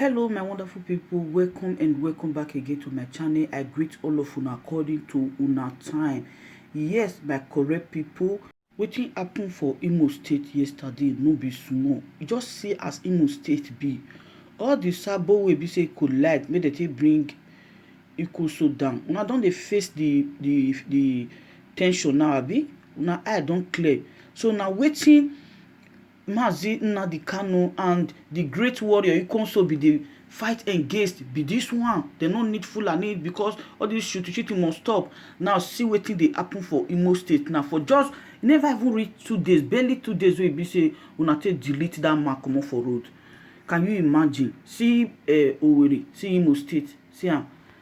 Hello my wonderful people, welcome and welcome back again to my channel. I greet all of una according to una time. Yes, my correct people, wetin happen for Imo State yesterday no be small. Just see as Imo State be. All the sabo wey be say collide make dem take bring Ikoso down. Una don dey face the the the tension now abi? Una eye don clear. So na wetin Mazi Nnadi Kanu and the great warrior Ikonso be the fight against be this one. They no need Fulani because all this shooting shooting must stop. Now see wetin dey happen for Imo State now for just e never even reach two days, barely two days wey e be say una take delete that man comot for road. Can you imagine? See uh, Owerri, see Imo State, see am.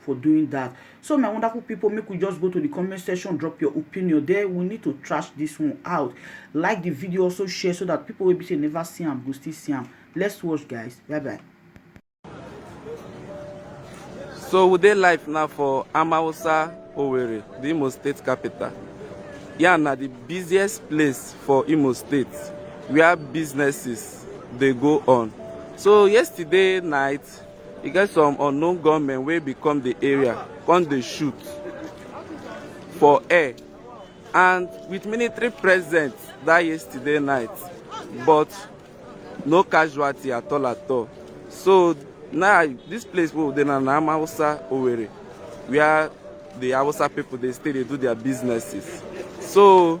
for doing that so my wonderful people make we just go to the comment section drop your opinion there we need to trash this one out like the video also share so that people will be say never see am go still see am let's watch guys bye bye so we dey live now for amawusa owerri the imo state capital Yeah, na the busiest place for imo state where businesses dey go on so yesterday night E get some unknown gunmen wey bin come di area come dey shoot for air and wit military presence dat yesterday night but no casualty at all at all so now dis place wey we dey now na Hausa Owerri wia di Hausa pipo dey stay dey do dia businesses so.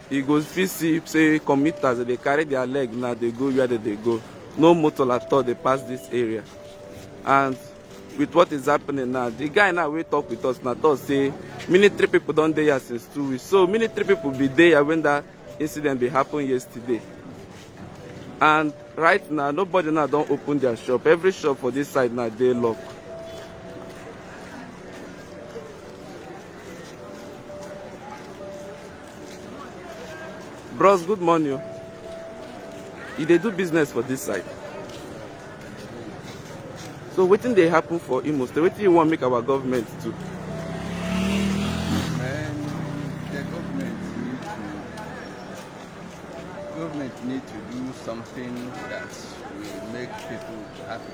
You go fit see say commuters dey dey carry their leg now dey go where they dey go. No motor at all dey pass this area. And with what is happening now, the guy now wey talk with us now talk say military people don dey here since two weeks. So military people be dey here when that incident be happen yesterday. And right now, nobody now don open their shop. Every shop for this side now dey locked. Bros, good morning. o. You dey do business for this side. So wetin dey happen for Imo State? Wetin you wan make our government do? Man, the government need to government need to do something that will make people happy.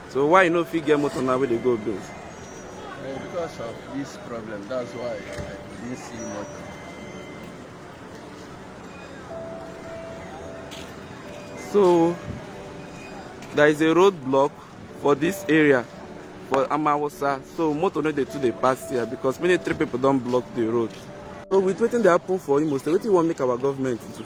So why you no fit get motor now wey dey go Ogun? Uh, because of this problem, that's why I didn't see motor. So there is a road block for this area for Amawosa. So motor no dey too dey pass here because many three people don block the road. So with wetin dey happen for Imo State, wetin you wan make our government do?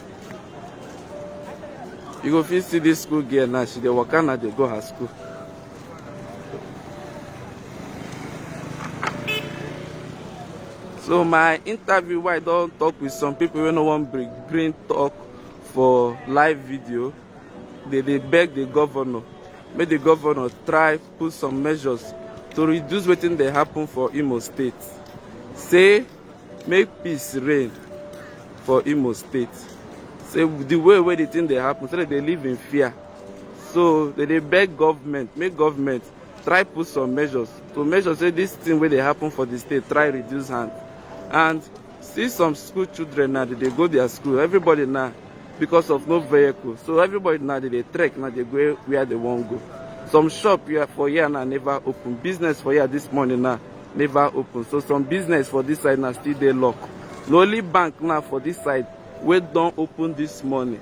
you go fit see this school girl now she dey waka now dey go her school so my interview wey i don talk with some people wey no wan bring bring talk for live video dey dey beg the governor make the governor try put some measures to reduce wetin dey happen for Imo State, say make peace reign for Imo State. Say the way wey the thing dey happen, say dem dey live in fear. So dem dey beg government, make government try put some measures to make sure say this thing wey dey happen for the state try reduce hand and see some school children now dey dey go their school everybody now because of no vehicle so everybody now dey dey trek now dey go where they wan go some shop here for here now never open business for here this morning now never open so some business for this side now still dey lock na only bank now for this side wey don open this morning